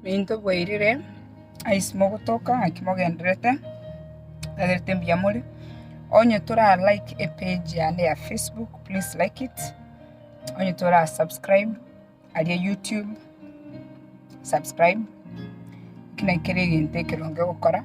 Minto bwairire, aise mogotoka naki mogendererete, naberete mbuya more. Onye tora like epage yane ya Facebook, please like it. Onye tora subscribe aria YouTube, subscribe. Ekio nekere egento ekeronge ogokora.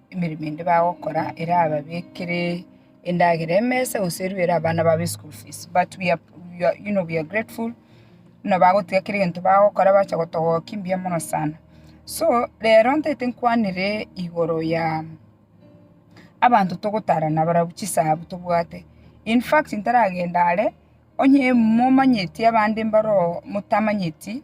emeremo ende bagokora erababekere endagera emesa gose erue ere abana babo eschool fees but we are we are you know we are grateful buna bagotiga kera egento bagokora bacha gotogokia mbuya mono sana. So rero ntagete nkwanere igoro ya abanto togotara nabarabwo chisabu tobwate, infact ntaragenda are onye momanyeti abande mbaroo motamanyeti.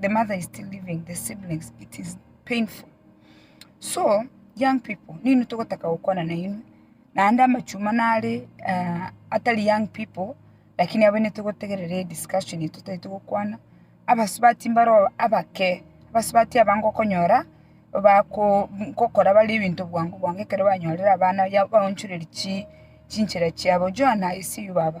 the mother is still living the siblings it is painful so young people nini togotaka gokwana na inwe naende amachuma nare ah, atari young people lakini abo nete gotegerere discussion yetu tari togokwana abasubati mbaro abake abasubati abange okonyora bako gokora bare ebinto bwango bwango ekero banyorire abana ya baonchoreri chi chinchera chiabo joana i see you baba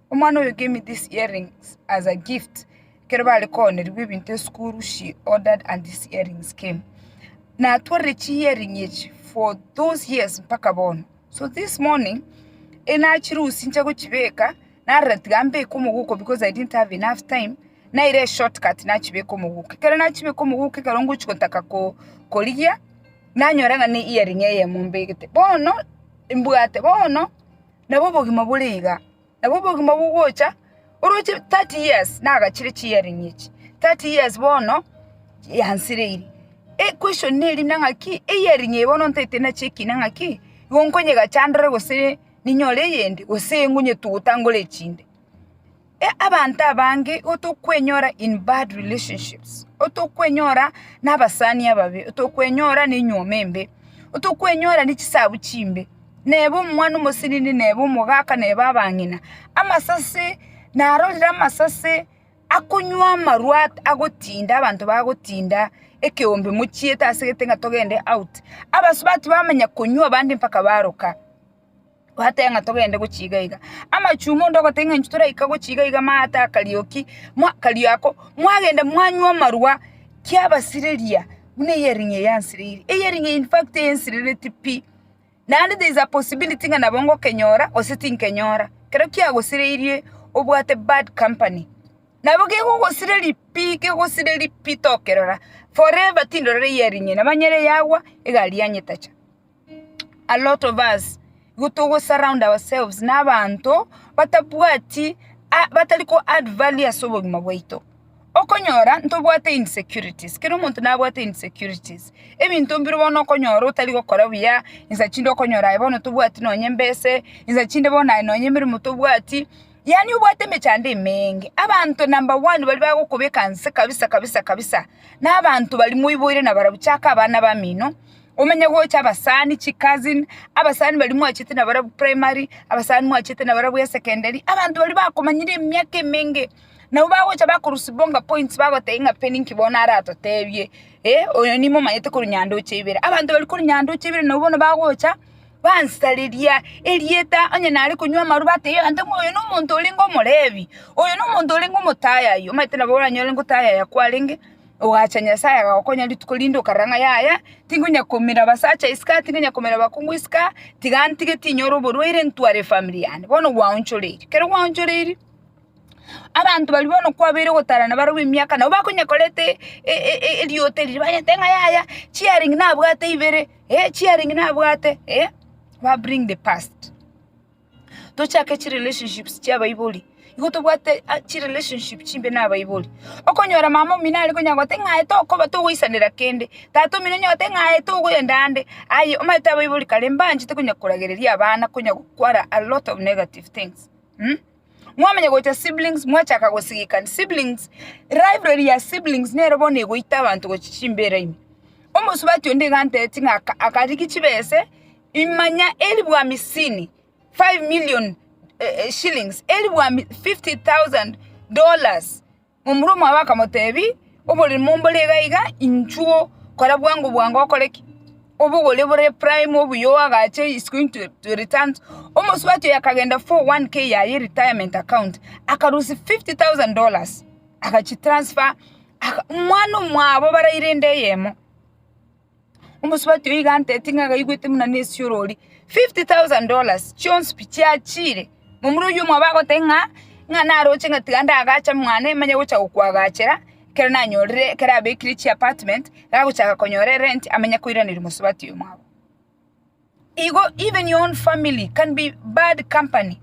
Omwana oyo gave me these earrings as a gift, ekero bare koonerigwa ebinto esukuru she ordered and these earrings came. Natwarire chi earring echi for those years mpaka bono. So this morning enachirusia inche gochibeka, narora tiga mbeke omogooko because I didn't have enough time, naira eshort cut nachibeka omogooko. Ekero nachibeka omogooko ekero ngochia gotaka ko- korigia, nanyora ng'a ne earring eyemo mbegete. Bono, mbwate bono. nabo obogima bore iga, nabo obogima bogocha oroche 30 years nagachire chi hearing echi, 30 years bono yansireire, equestion neri na ng'aki e hearing eye bono ntaete nachi ekina ng'aki igo nkonyegacha ndore gose ninyore eyende gose engonyetuguta ngore echinde. Abanto abange igo tokwenyora in bad relationships, igo tokwenyora nabasani ababe, igo tokwenyora nenyuoma embe, igo tokwenyora nechisabu chimbe, neba omwana omosenene neba omogaka neba abang'ina. Amasase narorire amasase akonywa amarwa agotinda abanto bagotinda ekeombe mochiete asegete ng'a togende out. Abasubati bamanya konywa abande mpaka baroka. Gwateba ng'a togende gochia iga iga. Amachuma onde ogoteba ng'a inche toraika gochia iga iga maate akarioki, mwa akario ako, mwagenda mwanywa amarwa kiabasireria buna ehearing eye yansireiri. Ehearing eye infact yensirereti pi, naende there is a possibility ng'a nabo ngokenyora gose tinkenyora. Ekero kiagosireirie obwate bad company, nabo kegogosireri pi, kegosireri pi tokerora, forever tindorora ehearing eye, nabo nere yagwa egari yanyetacha. a lot of us igo togo surround ourselves na abanto batabwati batari ko add value ase obogima bwaito. Okonyora ntobwate insecurities, kera omonto nabwate insecurities, ebinto mbire bono okonyora otari gokora buya, nsa chinde okonyora aye bono tobwati nonye mbese, nsa chinde bono aye nonye emeremo tobwati, yaani obwate emechando emeeenge. Abanto number one baria bagokobeka nse kabisa kabisa kabisa, na abanto baria moiboire na barabwo, chaka abana bamino, Omenye gocha abasani chi cousin, abasani baria mwachete na barabwo primary, abasani mwachete na barabwo esecondary, abanto baria bakomanyire emiaka emenge, nabo bagocha bakorusibonga points bagotebia ng'a pe ninki bono aratotebie, eh, oyo nimo omanyete korwa nyandoche ibere. Abanto baria korwa nyandoche ibere nabo bono bagocha bansareria erieta, onye nare konywa amarwa batebia abanto ng'a oyo nomonto orenge omorebi, oyo nomonto orenge omotayaya, omanyete nabo oranyore ngotayaya kwarenge. Ogacha Nyasaye agagokonya rituko rinde okarora ng'a yaya, tinkonya koumera abasacha isiko, tinkonya koumera abakungu isiko, tiga ntige tinyore oborwaire ntware efamiri yane. Bono gwaonchoreirie, kero gwaonchoreirie, abanto baria bono kwabeire ogotarana barabwo emiaka nabo bakonya koreta eriota erio banya goteba ng'a yaya, chiearing nabwate ibere, eh chiearing nabwate, eh, ba bring the past. tochake chirelationships chiabaibori, igo tobwate a- chirelationship chimbe na abaibori. Okonyora mama omino are konya gote ng'a aye tokoba togoisanera kende, tata omino onye ogote ng'a aye togoenda ande, aye omanyete abaibori kare mbanchete konya koragereria abana konya gokwara a lot of negative things mh. Mwamanya gocha siblings mwachaka gosigikani, siblings rivalry ya siblings nero bono egoita abanto gochia chimbera ime. Omosubati onde iga antebitie ng'a aka- akarigia chibese. Imanya eribwami sini, five million shillings, eribwami fifty thousand dollars. Momura omwabo akamoteebia, Oborimo mbore iga iga, inchuo, kora bwango bwango okore ki? Obogore bore prime obuya oagache is going to to return. Omosubati oyo akagenda for one k yaye retirement account, akarusia fifty thousand dollars, agachi transfer, aka mwana omwabo baraire ende eyemo. Omosubati oyio iga antete ng'a agaigwete buna nesiorori, fifty thousand dollars chionsi pi chiachiire. Momura oyio omwabo agoteba ng'a, ng'a naroche ng'a tiga ndagacha mwane manye gocha gokwagachera ekero nanyorire ekero abekire chiapartment, iga agochaka konyora erenti amanye koiraneria omosubati oyo omwabo. Igo even your own family can be bad company.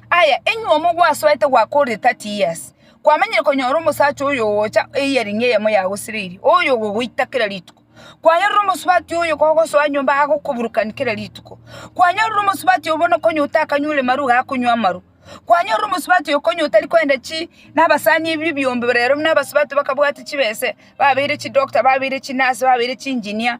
Aya, enywe omo gwasoete gwakore 30 years, kwamenyire konyora omosacha oyo ogocha eyearing eyemo yagosereirie, oyo ogogoita kera rituko. Kwanyorire omosubati oyo kogosoa nyomba agokoburukani kera rituko. Kwanyorire omosubati oyo bono konya otakanywire maru iga akonywa amaru. Kwanyorire omosubati oyo konya otari koenda chi nabasani ebi ebiombe rero buna abasubati bakabwate chibese, babeire chidoctor, babeire chinurse, babeire chiengineer,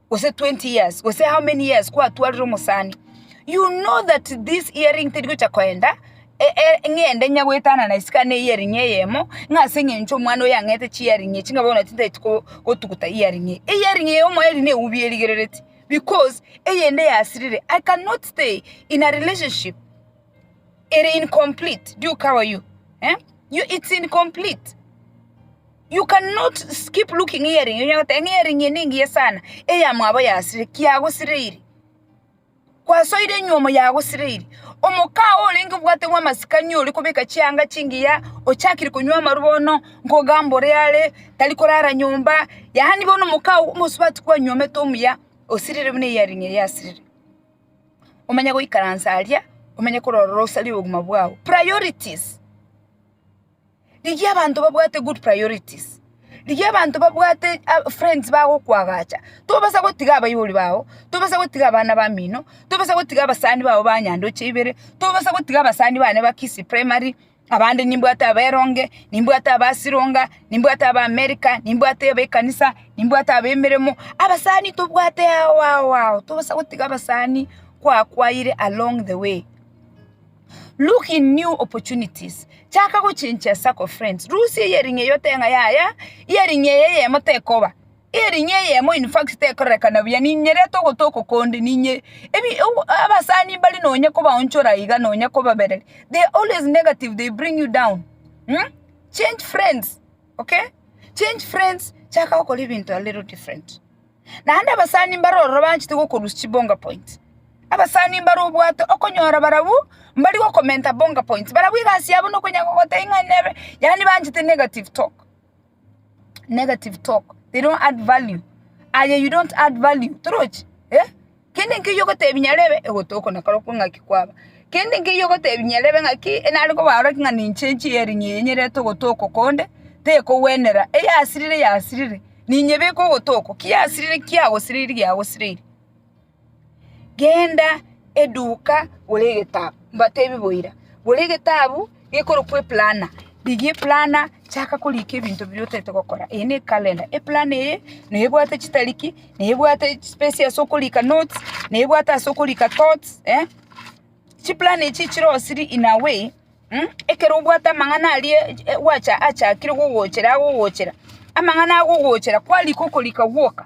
gose 20 years gose how many years kwatwarire omosani you know that this earring teri gocha koenda e, e, ng'ende nyagoetana na isika na earring eyemo ng'a ase eng'encho omwana oyo ang'ete chi earring echi ng'a bono tintageti ko- gotuguta earring eye earring eye omoeri na eubi erigerereti because eyende yasirire i cannot stay in a relationship Ere incomplete. Do you cover you? Eh? You, it's incomplete. You cannot s- keep looking hearing. Onye gote hearing ye ningiye sana. Eya mwabo yasire, kiagosireiri. Kwasoire nyuomo yagosireiri. Omokao orenge obwate bwa masikani ori kobeka chianga chingiya, ochakire konywa amaru bono, nkogamba ore are, tari korara nyomba. Yaani bono omokao omosubati kwanyuomete omuya, osirire buna hearing eye yasirire. omenye goikaransa aria, omenye korora orosari obogima bwao. Priorities. Rigia abanto babwate good priorities. Rigia abanto babwate a- friends bagokwagacha. Tobasa gotiga abaibori bao, tobasa gotiga abana bamino, tobasa gotiga abasani bao ba nyandoche ibere, tobasa gotiga abasani bane ba Kisii Primary, Abande nimbwate aberonge, nimbwate abasironga, nimbwate ab'Amerika, nimbwate ab'ekanisa, nimbwate ab'emeremo. Abasani tobwate ao ao ao, tobosa gotiga abasani kwakwaire along the way. Look in new opportunities, chaka gochenchia circle of friends. Rusia earring eyio otee ng'a yaya, earring eye eyemo tekoba. Erinyia eyemo in fact tekororekana buya ninyerete ogotoko konde ninye ebi ebu abasani mbari nonya kobaonchora iga nonya kobabereria they are always negative they bring you down mmh change friends okay change friends chaka gokora ebinto a little different naende abasani mbare ororo banchete goko lose chibonga point abasani mbare obwate okonyora barabwo mbari gokomenta bonga points barabwo egasi yabo nokonya gogotebia ng'a nebe yaani banchete negative talk. negative talk they don't add value aye you don't add value torochi eh kende nkeiyo ogotebia nyare ebe egotoko nakare okwo ng'aki kwaba kende nkeiyo ogotebia nyare ebe ng'aki enare koba oroki ng'a ninche enchie earing eye nyerete ogotoko konde tekogwenera eyasirire yasirire ninye beka ogotoko ki yasirire ki yagosireiri yagosireiri. Genda eduka gora egetabu, mbatebie boira, gora egetabu gekorokwa eplana, rigia eplana chaka korika ebinto biria otaete gokora, eye ne ekalenda, eplana eye neye ebwate chitariki, neye ebwate chipesi ase okorika notes, neye ebwate ase okorika thoughts, chiplana echi chire osiri in a way ekero obwate amang'ana aria gwacha achakire gogochera agogochera, amang'ana agogochera kwarika okorika gwoka.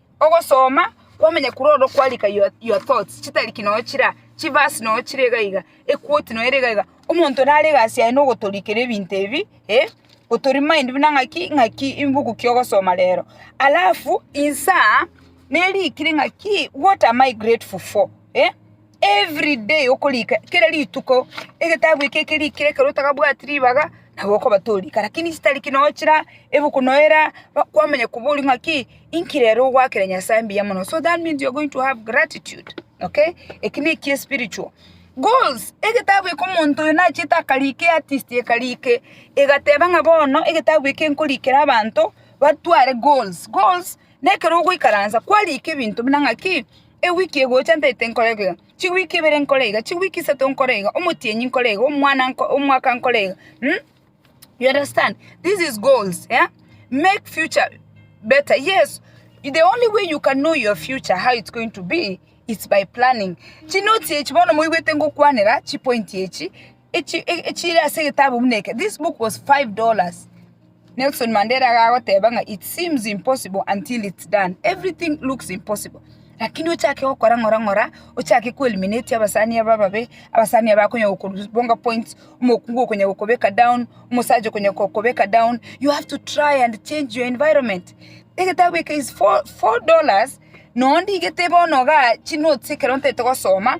Ogosoma kwamenyekure oro kwarika your your thoughts chitariki noyo chira chiverse noyo chire iga iga equote noyo ere iga iga omonto nare egasi yaye na ogotorikera ebinto ebi eh goto remind buna ng'aki ng'aki imbuku ki ogosoma rero alafu insaa nerikire ng'aki what am I grateful for eh. Every day okorika kera rituko egetabu eke ekerikire ekero otagabwati ribaga nabo okoba torika lakini chitariki nonya chira ebuku nonya era kwamanya koboria ng'aki inki rero ogwakera Nyasaye mbuya mono so that means you're going to have gratitude okay eki ne ekie spiritual. Goals, egetabu eke omonto oyo nachete akarika eartist ekarika e egateba ng'a bono egetabu eke nkorikera abanto batware goals, goals na ekero ogoikaransa kwarika ebinto buna ng'aki. Ewiki egocha ntaete nkore iga, chiwiki ibere nkore iga, chiwiki isato nkore iga, omotienyi nkore iga, omwana nko omwaka nkore iga mh, you understand? This is goals yeah? Make future better yes, the only way you can know your future how it's going to be it's by planning. Chinoti echi bono moigwete ngokwanera chipointi echi, echi e- echire ase egetabu buna eke, this book was five dollars. Nelson Mandela iga agoteba ng'a it seems impossible until it's done, everything looks impossible lakini ochake gokora ng'ora ng'ora, ochake ko eliminate abasani aba ababe, abasani aba bakonya gokobonga points, omokungu okonya gokobeka down, omosacha okonya gokobeka down, you have to try and change your environment. Egetabu eke is four four dollars, na onde iga tebe bono igaa chinotes ekero ntaete gosoma.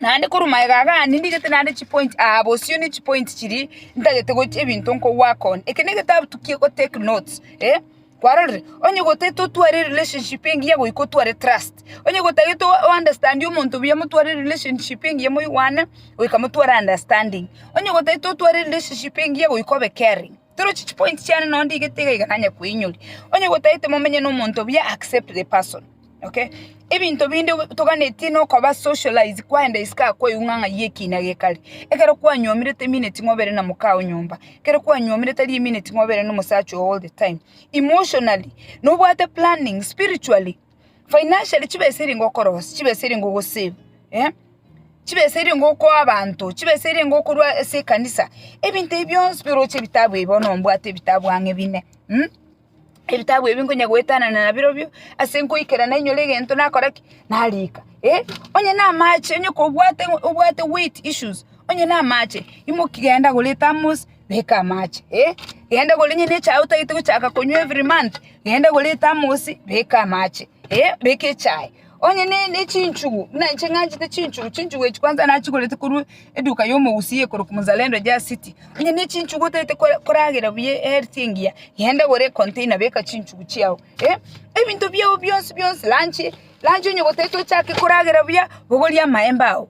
Naende korwa magega aga ande ndigete naende chipointi aa bosio ne chipointi chiria ntagete gochia ebinto nkowork on. Eke negetabu tokie gotake notes eh, kwarorire? Onye gotagete otware erelationship engiya goika otware trust, onye gotagete o- ounderstandie omonto buya motware erelationship engiya moigwane goika motware understanding, onye gotagete otware erelationship engiya goika obe caring. Toroche chipointi chiane nonya ndigete iga iga nanye koinyoria. Onye gotagete momenye na omonto buya accept the person. Okay? Ebinto binde obe- toganetie nokoba socialize kwaenda isiko aa kwaigwa ng'a ng'ai ekina gekare. Ekero kwanyomirete emineti mobere na mokao nyomba, ekero kwanyomirete tari emineti mobere na omosacha oo all the time. Emotionally, nobwate planning, spiritually, financially chibesa eria ngokorosia, chibesa eria ngogosave, eh, chibesa eria ngokoa abanto, chibesa eria ngokorwa ase ekanisa, ebinto ebi bionsi birooche ebitabu ebi bono mbwate ebitabu ang'e bine, ebitabu ebi nkonya goetanana nabirobio ase nkoikera nainyore egento nakora ki, narika, eh, onye na amache, onye kobwate obwate weight issues, onye na amache, imoki genda gora ethermos. beka amache, eh, genda gore onye nechae otagete gochaka konywa every month, genda gore ethermos beka amache, eh, beka echae, onye ne ne chinchugu, buna inche ng'anchete chinchugu, chinchugu echi kwanza nachigorete korwa eduka ya omogusii ekoroku Mzalendo Jas City, onye ne chinchugu otagete kora koragera buya ehealth engiya, genda gore econtainer beka chinchugu chiao, eh, ebinto biao bionsi bionsi, lunch, lunch onye gotagete ochake koragera buya, bogorie amaemba ao.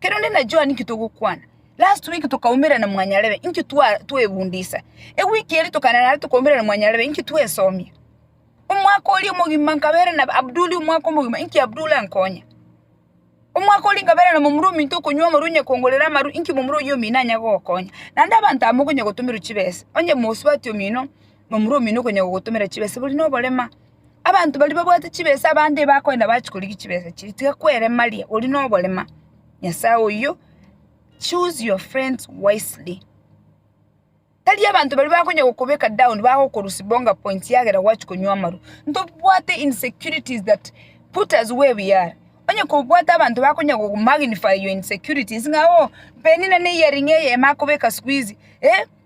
Kere onde na Joan inki togokwana? Last week tokaumera na Mwanyarebe inki twa twebundisa. Ewiki eri tokaenda nare tokaumera na Mwanyarebe inki twesomia. Omwaka oria omogima nkabera na Abduli omwaka omogima inki Abduli ankonya. Omwaka oria nkabera na momura ominto okonywa amarwa onye kongorera amarwa inki momura oyio omino anya gogokonya. Naende abanto amo okonya gotomerwa chibesa. Onye mosubati omino momura omino okonya gogotomera chibesa bori na oborema. Abanto baria babwate chibesa abande bakoenda bachia korigia chibesa chiria, tiga kweremaria, oria noborema, Nyasaye oyio, choose your friends wisely. Tari abanto baria bakonya gokobeka down bagokorusia bonga points eagera gwachia konywa amarwa, ntobwate insecurities that put us where we are, onye kobwate abanto bakonya go magnify your insecurities ng'a oo, Penina ne earring eye ime akobeka sikuizi, eeh.